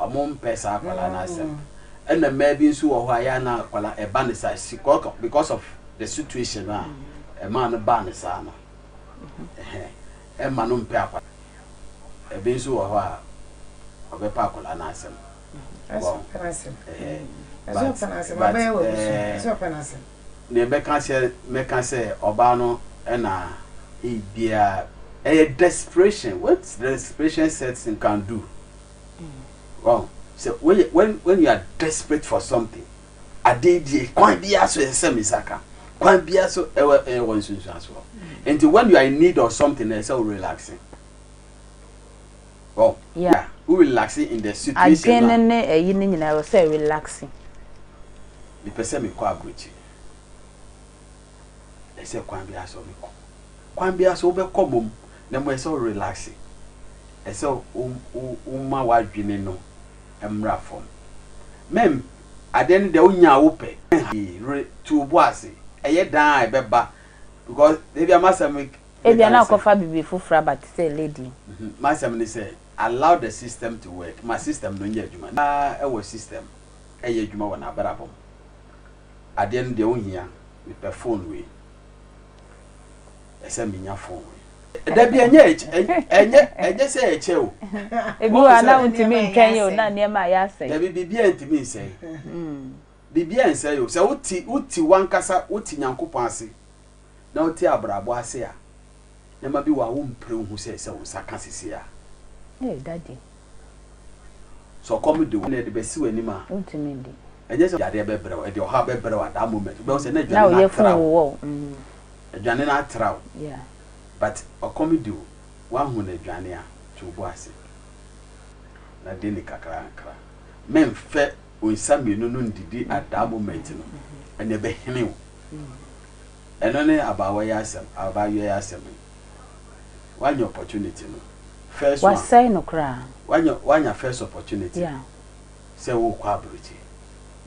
[SPEAKER 5] Ɔmo mpɛ saa akwadaa no asɛm. Ɛna mmaa bi nso wɔ hɔ a yɛ a na akwadaa ɛba no saa si kɔkɔ because of the situation no a ɛmaa no baa no saa no. Ɛma no mpɛ akwadaa. Ɛbi nso wɔ hɔ a ɔbɛpɛ akwadaa no asɛm. Ɛsɛ ɔpɛ no asɛm. Ɛsɛ ɔpɛ no asɛm. Abɛyɛ wɔ abusua. Ɛsɛ ɔpɛ no asɛm. Nea ɛbɛka sɛ mɛka sɛ ɔbaa no na he biara ɛyɛ desperation what desperation sets in can do wɔn sɛ wɔyɛ when when you are desperate for something adeɛ die kwan biara so ɛsɛ mi nsa ka kwan biara so ɛwɔ ɛwɔ nsunsuansoɔ nti when you are in need of something ɛsɛ o relaxing. Adwen no ne ɛyi no nyinaa
[SPEAKER 1] ɛwɔ sɛ relaxing.
[SPEAKER 5] Mepɛ sɛ mekɔ abrokyire. Ɛsɛ kwan biara so mekɔ. Kwan biara so wobɛkɔ mmom na mmom ɛsɛ wo relaxing. Ɛsɛ woma w'adwene no mmra fam. Mɛm adeɛ no deɛ wonya a wopɛ. Re to wo bo ase. Ɛyɛ dan a ɛbɛba because dabi a m'asɛm Ebia na ɔkɔfa
[SPEAKER 1] biribi foforo aba te sɛ lady yi. M'asɛm ne sɛ,
[SPEAKER 5] allow the system to work, ma system no nyɛ adwuma. Na ɛwɔ system ɛyɛ adwuma wɔ n'abrabɔ mu. Adeɛ no deɛ wonhia, mepɛ phone wei, ɛsɛ menya phone wei. Dabi, ɛnyɛ ɛnyɛ ɛnyɛ sɛ ɛkyɛ o. Ebi wɔ hɔ a na
[SPEAKER 1] wontumi ntwɛn o, na nneɛma ayɛ asɛe. Dabi, biribiara ntumi
[SPEAKER 5] nsɛe. Biribiara nsɛe o. Sɛ wote wote w'ankasa, wote Nyankopɔn ase na wote abrabɔ ase a, nneɛma bi wɔ a wompere nhu sɛ sɛ wo nsa ka seesei a. Hey, Daddy. Sɛ ɔkɔm de wo na ɛde bɛsi w'anim a. Wontumi ndi.
[SPEAKER 1] Ɛnyɛ sɛ yadeɛ bɛbrɛ
[SPEAKER 5] wo, ɛde ɔhaw bɛbrɛ wo at that moment. Wobɛhu sɛ na aduane no atra wo.
[SPEAKER 1] Aduane
[SPEAKER 5] no atra wo.
[SPEAKER 1] But
[SPEAKER 5] ɔkɔm de wo, woahunu aduane a, to wo bo ase na di no nkakrankakra. Memfɛ. wo nsa mmienu no ndidi at that moment no ɛna ɛbɛhene wo ɛno ne abaawa yi asɛm abaayewa yi asɛm yi wanya opportunity no first one wasɛe no koraa
[SPEAKER 1] wanya wanya first
[SPEAKER 5] opportunity yeah.
[SPEAKER 1] sɛ wokɔ
[SPEAKER 5] aburokyi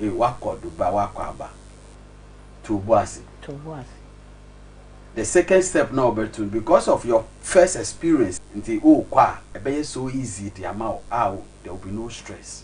[SPEAKER 5] eh, wakɔ duba wakɔ aba to bo ase to bo ase the second step na ɔbɛto because of your first experience nti wokɔ a ɛbɛyɛ so easy de ama wo a there will be no stress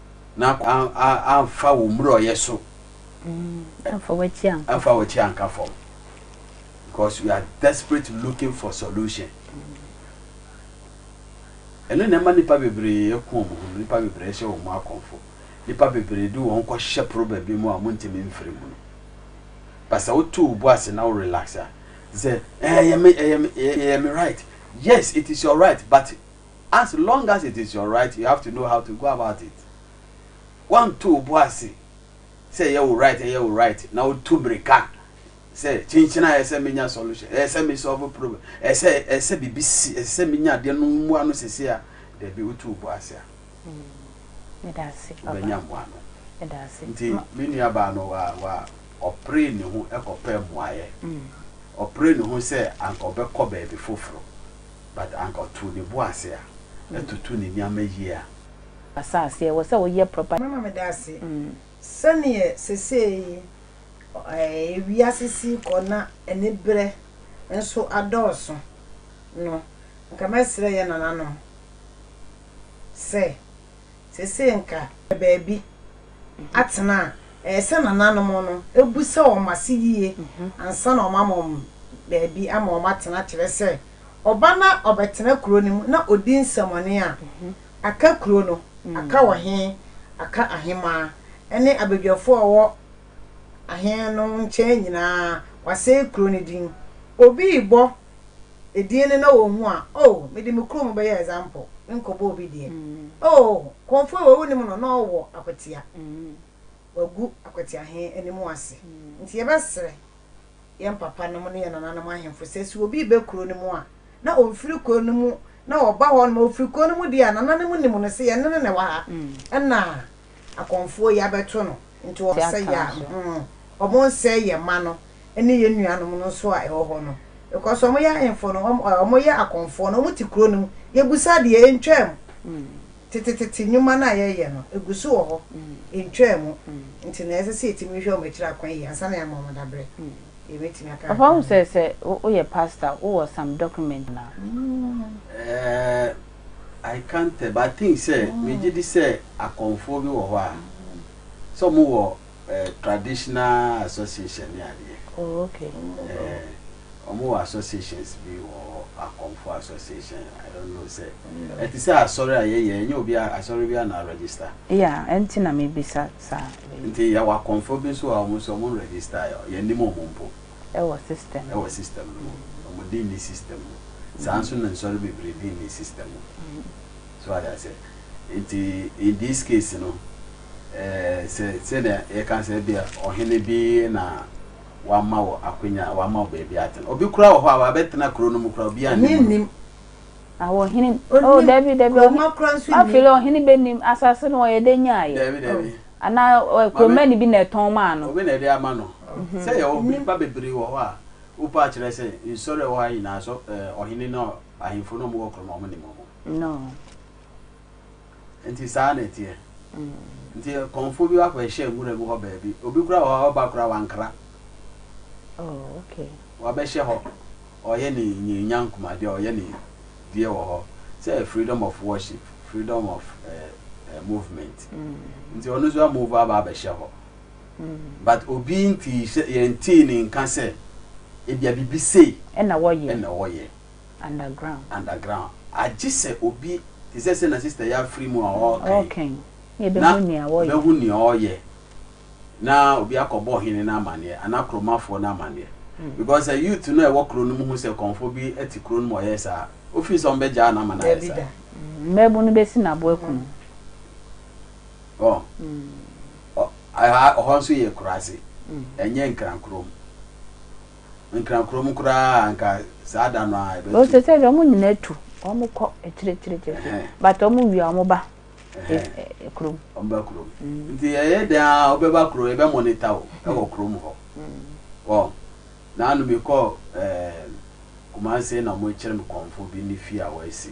[SPEAKER 5] na amfa wo mmurɔyɛ so
[SPEAKER 1] amfa w'akyi anka fam
[SPEAKER 5] because we are desperate looking for solution ɛno na ɛma nipa bebree ɛko wɔn ho nipa bebree hyɛ wɔn akɔnfo nipa bebree de wɔn kɔ hyɛ problem bi mu a wɔn ntumi mfiri mu no basa wotu wo bo ase na wo relax a sɛ ɛyɛ me ɛyɛ me ɛyɛ me right yes it is your right but As long as it is your right, you have to know how to go about it. Woanto wo bo ase sɛ ɛyɛ wo right, ɛyɛ wo right, na wotu mmirika sɛ kyenkyena ɛyɛ sɛ menya solution, ɛyɛ sɛ me solve problem, ɛyɛ sɛ ɛyɛ sɛ biribi si, ɛsɛ sɛ menya adeɛ no mmoa no sese a, dabi wotu wo bo ase a,
[SPEAKER 1] wobɛnya mmoa
[SPEAKER 5] no. Nti
[SPEAKER 1] me nua
[SPEAKER 5] baa no wa wa ɔpere ne ho kɔpɛ mmoaeɛ, ɔpere ne ho sɛ anka ɔbɛkɔ baabi foforɔ, But anka ɔtoo ne bo ase a atutu ne nneɛma yie a. Asase ɛwɔ
[SPEAKER 1] sɛ woyɛ proper. Mama me da ase
[SPEAKER 2] sɛneɛ sesei wiase si rekɔ na aniberɛ nso adɔɔso no, nka mɛsrɛ yɛn nananom sɛ sesei nka yɛwɔ baabi atena a ɛyɛ sɛ nananom no bisa wɔn ase yie ansa na wɔama wɔn baabi ama wɔn atena kyerɛ sɛ. ɔba na ɔbɛtena kuro no mu na ɔdi nsɛmɔne a, aka kuro no, aka ɔhene, aka ahemmaa, ne abadwafoɔ a wɔwɔ ahene no nkyɛn nyinaa, wasɛe kuro no din. Obi rebɔ edin no na ɔhu a, oh, mede me kurom bɛyɛ example, menkɔbɔ obi deɛ. Oh, Komfoe wei wonim no, na ɔwɔ akwatia. wɔagu Akwati Ahen anim ase. Nti yɛbɛsrɛ yɛn papa nom ne yɛn nana nom ahemfo sɛ sɛ obi rebɛ kuro no mu a na ɔmfiri kuro no mu na ɔba hɔ nom a ɔfiri kuro no mu deɛ a nana nom nim no sɛ yɛne no na ɛwɔ ha ɛna akɔmfoɔ yi abɛto no nti wɔn sɛ yɛ a hmm wɔn nsɛe yɛn mma no ne yɛn nua nom no nso a ɛwɔ hɔ no because wɔn yɛ ahemfo no wɔn yɛ akɔmfoɔ no wɔn te kuro no mu yɛbusa deɛ ɛntwaa mu. Tetetete nnwuma no a yɛyɛ no, egu so wɔ hɔ, entwaa mu. Enti nea ɛsɛ sɛ yetumi hwɛ wɔn akyiri akwan yiye ansa na yɛama wɔn dabere. Yebetumi aka kakra Ɔfa wo sɛ sɛ
[SPEAKER 1] woyɛ pastor a, wowɔ some document anaa?
[SPEAKER 5] Eh, I can't tell, but I think sɛ, megye di sɛ akɔmfoɔ bi wɔ hɔ a, sɛ wɔwɔ. Eh, traditional association ne adeɛ. Oh, okay.
[SPEAKER 1] Eh,
[SPEAKER 5] ɔmo wɔ associations bi wɔ hɔ, akɔmfo association, I don't know sɛ. Ɛte sɛ asɔre a yɛyɛ, ɛnyɛ obi a, asɔre bi a na register. Yeah, ɛnti na
[SPEAKER 1] mebisa saa. Nti yɛwɔ akɔmfo
[SPEAKER 5] bi nso a ɔmo nso ɔmo register, yɛnnim ɔmo mpo. Ɛwɔ system.
[SPEAKER 1] Ɛwɔ system no mu.
[SPEAKER 5] Ɔmo di nni system mu. Saa nso na nsɔre bebree di nni system mu. So ate aseɛ? Nti in this case no, Sɛ sɛnea yɛka sɛ ebia ɔhene bi na wama wo akwanya, wama wo baabi atena. Obi koraa wɔ hɔ a wabɛtena kuro no mu koraa obiara Obi nnim no. nnim. Awo
[SPEAKER 1] ɔhene o Onnim. dabi dabi Kuroma ɔhene koraa nso
[SPEAKER 2] afei nnim. ɔhene bɛnim
[SPEAKER 1] asase no ɔyɛ dɛ nyaeɛ Dabi dabi. anaa
[SPEAKER 5] ɔ-
[SPEAKER 1] kuromani bi na ɛtɔn maa no Obi na ɛde ama no.
[SPEAKER 5] Sɛ yɛwɔ Nnim. nnipa bebree wɔ hɔ a wopɛ akyerɛ sɛ nsɔre a ɛwɔ ha nyinaa sɔ ɛɛ ɔhene ne ɔ- ahemfo ne wɔn wɔ kurom a wɔn nnim wɔn. no Nti saa na ɛteɛ. Nti kɔmfoɔ bi wakɔ ɛhyɛ nwura bi hɔ baabi. Obi kora wɔ hɔ ɔba kora wankra. Oh, okay. Wabɛhyɛ hɔ. Ɔyɛ
[SPEAKER 1] ne
[SPEAKER 5] nyanya nkumadeɛ, ɔyɛ ne deɛ wɔ hɔ. Sɛ freedom of worship, freedom of eh, eh, movement. Nti ɔno nso amove aba abɛhyɛ hɔ. But obi nti yɛntee ne nka sɛ ebia biribi sei ɛna
[SPEAKER 1] wɔyɛ. underground. Underground
[SPEAKER 5] agye sɛ obi te sɛ sɛ na sister yi afiri mu a ɔɔka yi Ɔɔka yi
[SPEAKER 1] na yɛbɛhu nea wɔyɛ. Na yɛbɛhu nea ɔɔyɛ
[SPEAKER 5] na obi akɔ bɔ ɔhene no amaneɛ anaa kuromafoɔ no amaneɛ because sɛ youth no a ɛwɔ kuro no mu hu sɛ kɔmfoɔ bi te kuro no mu a ɔyɛɛ saa a wofii sɛ ɔmbɛgyaa no ama no ayɛ Daabi saa. da. Mmabun no
[SPEAKER 1] bɛsi no aboa kunu. Ɔɔ
[SPEAKER 5] ɔ ɛha ɔhɔ nso yɛ kuraase ɛnyɛ nkrankurom. Nkran kurom koraa a anka saa da no ara ɛbɛto. Ɔsɛ sɛ wɔn nyinaa
[SPEAKER 1] tu, wɔkɔ akyirikyirikyiri but wɔwie a wɔba kurom. Wɔba kurom.
[SPEAKER 5] Nti ɛyɛ dɛn a wobɛba kurom, yɛbɛ monitor wo wɔ kurom hɔ. Wɔn, naanu mekɔɔ Kumasi na wɔkyerɛ me kɔmfoɔ bi ne fie a wɔasi.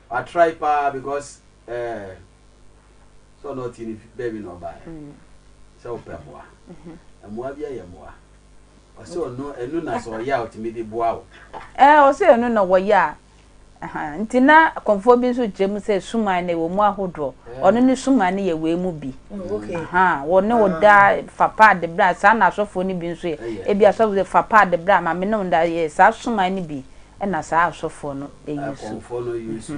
[SPEAKER 5] Wa try paa because eh sɛ ɔna ɔte ne fi baabi na ɔbaɛ sɛ ɔpɛ mmoa mmoa bi ɛyɛ mmoa ɔsɛ ɔno ɛnu na sɛ ɔyɛ a ɔtumi de boa wo. Ɛɛ ɔsɛ
[SPEAKER 1] ɛnu na wɔyɛ a ɛha nti na kɔnfoɔ bi nso gyina mu sɛ suman no ɛwɔ mu ahodoɔ ɔno ne suman no yɛ wei mu bi ha wɔ ne wɔ da fa paa de bra saa na asɔfoɔ no bi nso yɛ ebi asɔfoɔ fa paa de bra ma me ne wɔ da yɛ saa suman no bi. Ɛna saa asɔfoɔ no use. Akɔmfoɔ no use.
[SPEAKER 5] Ɛɛ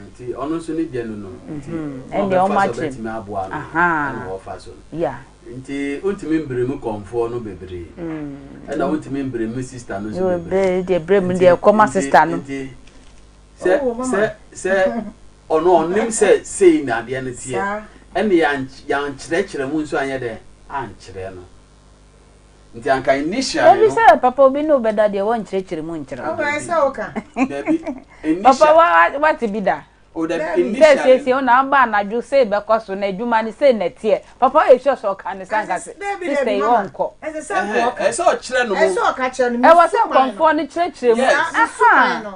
[SPEAKER 5] nti ɔno nso ne gya nu no. Nti na ɔbɛfa
[SPEAKER 1] so ɔbɛtumi aboa no. Ɛna
[SPEAKER 5] ɔfa so no. Yeah. Nti
[SPEAKER 1] ontumi
[SPEAKER 5] mbremu kɔmfoɔ no bebree. Ɛna ontumi mbremu sista no nso bebree. Nti deɛ bremu deɛ
[SPEAKER 1] ɛkɔ ma sista no. Nti sɛ sɛ
[SPEAKER 5] sɛ ɔno ɔnim sɛ sei na adeɛ no teɛ. Ɛna yɛn yɛn kyerɛkyerɛ mu nso anyɛ dɛ ankyerɛ no. Nti anka nni hyia ne no. Mabisa yɛ papa obi ne
[SPEAKER 1] wo bɛda deɛ wɔnkyerɛkyerɛ mu nkyerɛ wo. Aba ɛsɛ wo ka.
[SPEAKER 2] Dabi
[SPEAKER 1] nni hyia. Papa wate bi da. O dabi nni hyia ne
[SPEAKER 5] no. Sɛ siesie wo na aba anadwo
[SPEAKER 1] sei bɛkɔ so na adwuma no sei na ɛteɛ. Papa woyɛ sure sɛ ɔka no saa anka sister yi ɔnkɔ. Ɛsɛ
[SPEAKER 2] sɛ ɔkyerɛ no
[SPEAKER 5] mu.
[SPEAKER 2] Ɛwɔ sɛ nkɔmfoɔ no
[SPEAKER 1] kyerɛkyerɛ mu. Yes. Ahaa.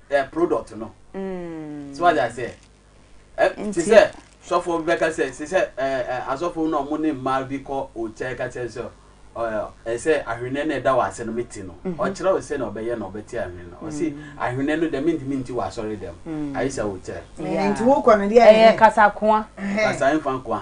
[SPEAKER 5] eh, product no. Mm. So what I say? Eh, te sɛ sɔfo bi bɛka sɛ te sɛ eh, eh, asɔfo na ɔmo ne mmaa bi kɔ okyɛ ka kyerɛ sɛ ɛsɛ eh, ahwenɛ na ɛda wɔ ase no mete no mhm. ɔkyerɛ wo sɛ na ɔbɛyɛ na ɔbɛte ahwenɛ no ɔse mm. ahwenɛ no dɛm ntumi nti wɔ asɔre dɛm mm. ayɛ sɛ wokyɛ nti wokɔ no deɛ
[SPEAKER 2] ɛyɛ kasakoa
[SPEAKER 1] kasaɛmfa nkoa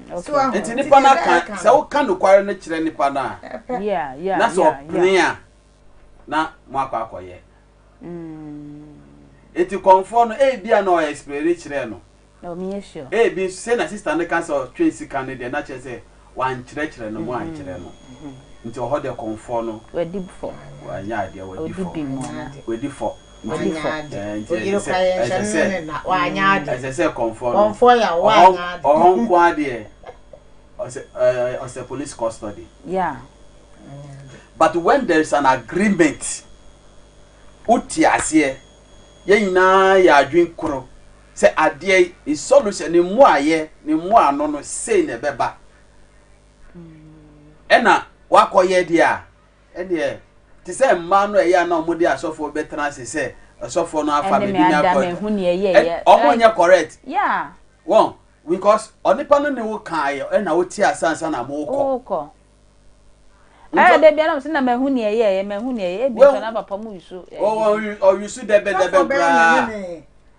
[SPEAKER 2] Nti nipa no aka,
[SPEAKER 5] sɛ woka nokware no kyerɛ nipa no a, na
[SPEAKER 1] sɛ ɔpene
[SPEAKER 5] a, na moakɔ akɔyɛ. Nti kɔmfoɔ no, ebi a na ɔyɛ explaini kyerɛɛ no.
[SPEAKER 1] Ebi nso, sɛ na sista
[SPEAKER 5] no ka sɛ ɔtwe sika no deɛ, na kyerɛ sɛ wankyerɛkyerɛ no, moankyerɛ no. Nti ɔhɔ deɛ kɔmfoɔ no,
[SPEAKER 1] wanyɛ adeɛ,
[SPEAKER 5] wadi fɔ. Ɔdi fɔ. Ɔyere kura yɛ nhyɛ no ne ne na. Wanyɛ ade. Ɛsɛ sɛ kɔnfoɔ no. Kɔnfoɔ yɛ a
[SPEAKER 2] wanyɛ ade. Ɔhɔ nko ara deɛ
[SPEAKER 5] ɔsɛ ɔsɛ police custody. Yeah. But when there is an agreement, wote aseɛ, yɛn nyinaa yɛ adwene koro sɛ adeɛ yi ne solution ne mmuaeɛ ne mmoano no sei na ɛbɛba. Ɛna wakɔyɛ deɛ a Ɛdeɛ, te sɛ mmaa no a ɛyɛ a na wɔde asɔfoɔ bɛtena ase sɛ ɔsɔfoɔ no afa baabi na akɔ adwuma. Wɔn nyɛ correct. Wɔn, because onipa no ne wo kaeɛ ɛna wo te ase ansa na mo kɔ.
[SPEAKER 1] Ɛyɛ dɛ bia na wɔn sɛ na mahu nea ɛyɛɛyɛ, mahu nea ɛyɛ, ebi nso na papa mo use. Wɔn use
[SPEAKER 5] dɛbɛdɛbɛ koraa.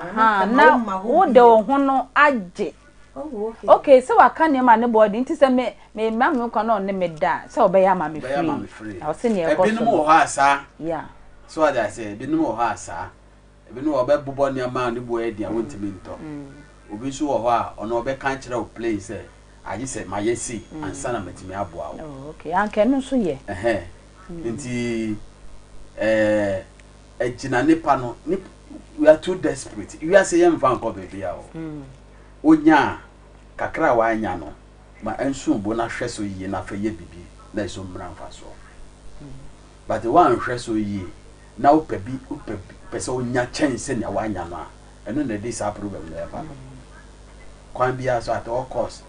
[SPEAKER 1] Ahaa, na wode wo ho no agye.
[SPEAKER 2] Okay, sɛ waka
[SPEAKER 1] nneɛma a ne bɔɔ de nti sɛ me me ma me nkwa na ɔne me da a, sɛ ɔbɛyɛ ama me free. Na ɔse nea ɛkɔ so no. Ebinom wɔ hɔ a saa.
[SPEAKER 5] Yeah. So
[SPEAKER 1] ɔde ase,
[SPEAKER 5] ebinom wɔ hɔ a saa. Ebinom wɔ hɔ ɔbɛbobɔ nneɛma a ne bo ayɛ den a wontumi ntɔ. Obi nso wɔ hɔ a ɔno ɔbɛka akyerɛ wo plain sɛ agye sɛ mayɛ sei ansa na matumi aboa wo. Oh, okay. Anka ɛno
[SPEAKER 1] nso yɛ. Ɛhɛn. Nti
[SPEAKER 5] ɛɛ. agyina ne pa no ne we are too desperate wiase yɛ nfa nkɔ baabi a o onya kakra a wanya no ma ɛnso bo na hwɛ so yie na fɛ yɛ bibi na ɛso mmra nfa so but wanhwɛ so yie na wopɛ bi wopɛ pɛ sɛ onya kyɛn sɛ nea wanya no a ɛno na ɛde saa problem na ɛba no kwan biara so at all cost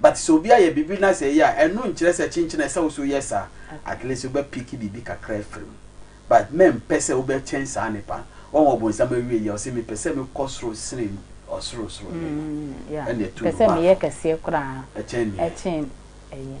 [SPEAKER 5] But sɛ obi ayɛ biribi na sɛ ɛyɛ a, ɛno nkyerɛ sɛ kyenkyen a ɛsɛ sɛ wo nso yɛ saa. At least wobɛ pick biribi kakra afiri mu. But mɛmpɛ sɛ wobɛkyɛn saa nipa no. Wahu ɔbonsam awiei a, ɔse mepɛ sɛ mekɔ soro sene ɔsorosoro hene
[SPEAKER 1] no. Ɛnna ɛtu no baako. Pɛ sɛ meyɛ kɛseɛ koraa kyɛn
[SPEAKER 5] nea.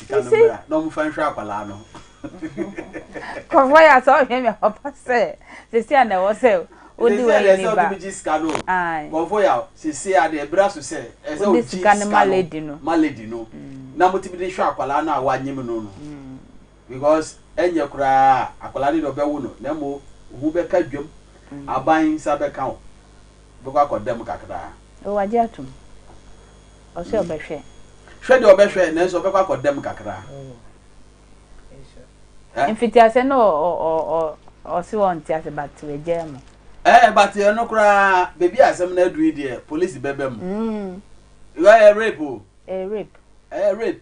[SPEAKER 1] You
[SPEAKER 5] see?
[SPEAKER 1] Kɔfɔ ya sɛ ɔhwɛ mi ɔba sɛ sisi a na ɛwɔ sɛ odi wɔ yi ni ba. Ayi. Kɔfɔ
[SPEAKER 5] ya sisi a de ebira so sɛ ɛsɛ odi sika no ma lady no.
[SPEAKER 1] Ma lady no.
[SPEAKER 5] Na mo ti bi de hwɛ akwadaa no a wanyim no no. Because ɛnyɛ koraa akwadaa no de ɔbɛwo no na mo ho bɛka dwam aban nsa bɛka o bɛkɔ akɔ dɛm kakra. O wagye atum.
[SPEAKER 1] Ɔse ɔbɛhwɛ. Hwɛ deɛ ɔbɛhwɛ
[SPEAKER 5] nanso ɔbɛkɔ akɔ dɛm kakra.
[SPEAKER 1] Eh? Mfitiase no ɔse ɔnte ase but wagyaa mu. Eh, but ɛno
[SPEAKER 5] koraa baabi a asɛm no aduru yi deɛ polisi bɛba mu. Mm. Ɛyɛ rape o. Ɛyɛ rape. Ɛyɛ rape.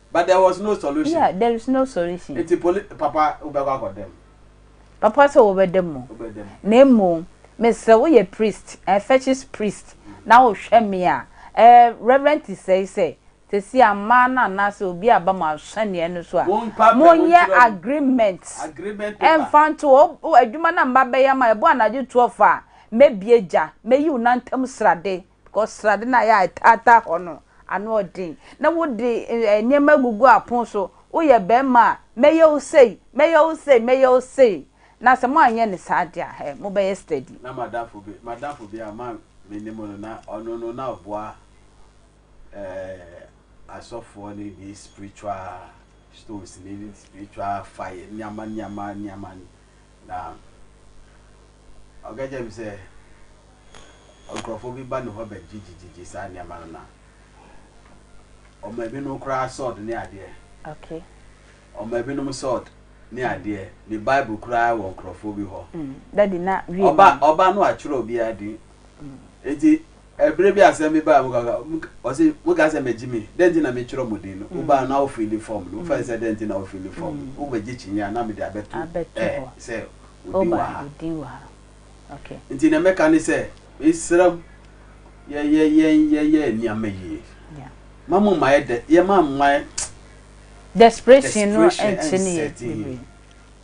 [SPEAKER 1] But
[SPEAKER 5] there was no solution. Yeah, there is no solution. Eti poli
[SPEAKER 1] papa wobɛkɔ
[SPEAKER 5] akɔda mu. Papa sɛ wobɛda mu.
[SPEAKER 1] Wobɛda mu. Na mmom mesrɛ woyɛ priest, eh, fetish priest na wohwɛ me a, eh, Reverend Tisɛe sɛ sɛsi a mmaa no anaasɛ obi a ba mo asɛnneɛ no so a, Mompa pɛ, monyɛ montwerɛ mu. agreement Agreement paper. ɛmfa nto hɔ. O, adwuma no a mma bɛyɛ ama ɛbɔ anadwo 12 a, mɛbie gya, mɛyi wo nantam srade. Because srade no a ɛyɛ a ɛtaataa hɔ no, ano yɛ den. Na wode nneɛma agugu apon so. Woyɛ barima a, mɛyɛ wo sei, mɛyɛ wo sei, mɛyɛ wo sei. Na sɛ moanyɛ no saa deɛ a, hɛ, mobɛyɛ steady. Na m'adamfo bi,
[SPEAKER 5] m'adamfo bi a ma me ne mu no, na ɔno no na ɔboa eh, asɔfoɔ no de spiritual stones ne spiritual fire, nneɛma, nneɛma, nneɛma Na ɔka kyerɛɛ me sɛ nkurɔfoɔ bi ba ne hɔ bɛgyegyegyegye saa nneɛma no na ɔma binom koraa sɔɔd ne adeɛ. Okay.
[SPEAKER 1] Ɔma
[SPEAKER 5] binom sɔɔd ne mm. adeɛ ne bible koraa wɔ nkurɔfoɔ bi hɔ. Mm. Dadi na wie.
[SPEAKER 1] Ɔba ɔba no atwerɛ
[SPEAKER 5] obiara din. Mm. Eti Ɛberɛ bi asɛm bi baa mu kaka, ɔse mokaa sɛ mɛgye me, dɛn nti na metwerɛ mo din no, wobaa no na wo fiili fɔm no, wofae sɛ dɛn nti na wo fiili fɔm no, wobɛgye kyineɛ a na mede abɛto ɛ sɛ wo
[SPEAKER 1] din wɔ ha. Nti deɛ mɛka ne
[SPEAKER 5] sɛ, mesrɛ mo, yɛ yɛ yɛn yɛ yɛ nneɛma yie, ma mo mma yɛ dɛ, yɛ ma mma yɛ
[SPEAKER 1] desperation and setting in.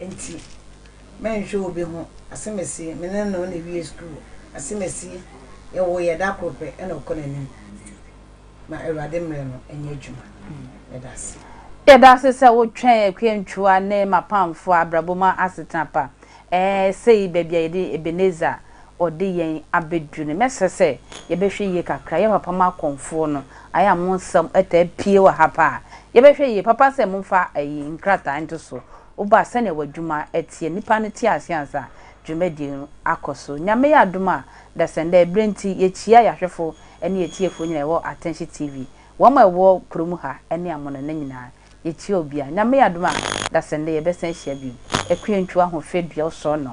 [SPEAKER 2] Enti mɛnhwɛ obi ho, asemesi, me ne no na ewie sukuu, asemesi, yɛwoo yɛn da koro pɛ na ɔkɔ n'anim. Ma Awurade mmere no nyɛ adwuma. Yɛda ase. Yɛda ase sɛ
[SPEAKER 1] wotwɛn Akua Ntuwa ne M'apamfo abrabɔ mu asetena pa. Ɛɛ, sei baabi a yɛde Ebenezer. ɔde yɛn abɛduru no, mɛsrɛ sɛ yɛbɛhwɛ yie kakra. Yɛ papa ma akɔmfoɔ no. Ayɛ a mo nsɛm taa pue wɔ ha paa. Yɛbɛhwɛ yie. Papa sɛ momfa ayi nkrataa nto so. Woba a, sɛdeɛ w'adwuma teɛ, nnipa no te aseɛ ansa dwumadie no akɔ so. Nyame yɛ adom a, dasɛnda ɛberɛ nti, yɛkyia yɛn ahwɛfoɔ ne yɛn atiefoɔ nyinaa a ɛwɔ Attention TV, wɔn a ɛwɔ kuro mu ha ne amonɔne nyinaa. Yɛkyia obiara. Nyame yɛ adom a, dasɛnda yɛbɛsan ahyia bio. Akuentwa Ahofe Duaɔsɔnnɔ.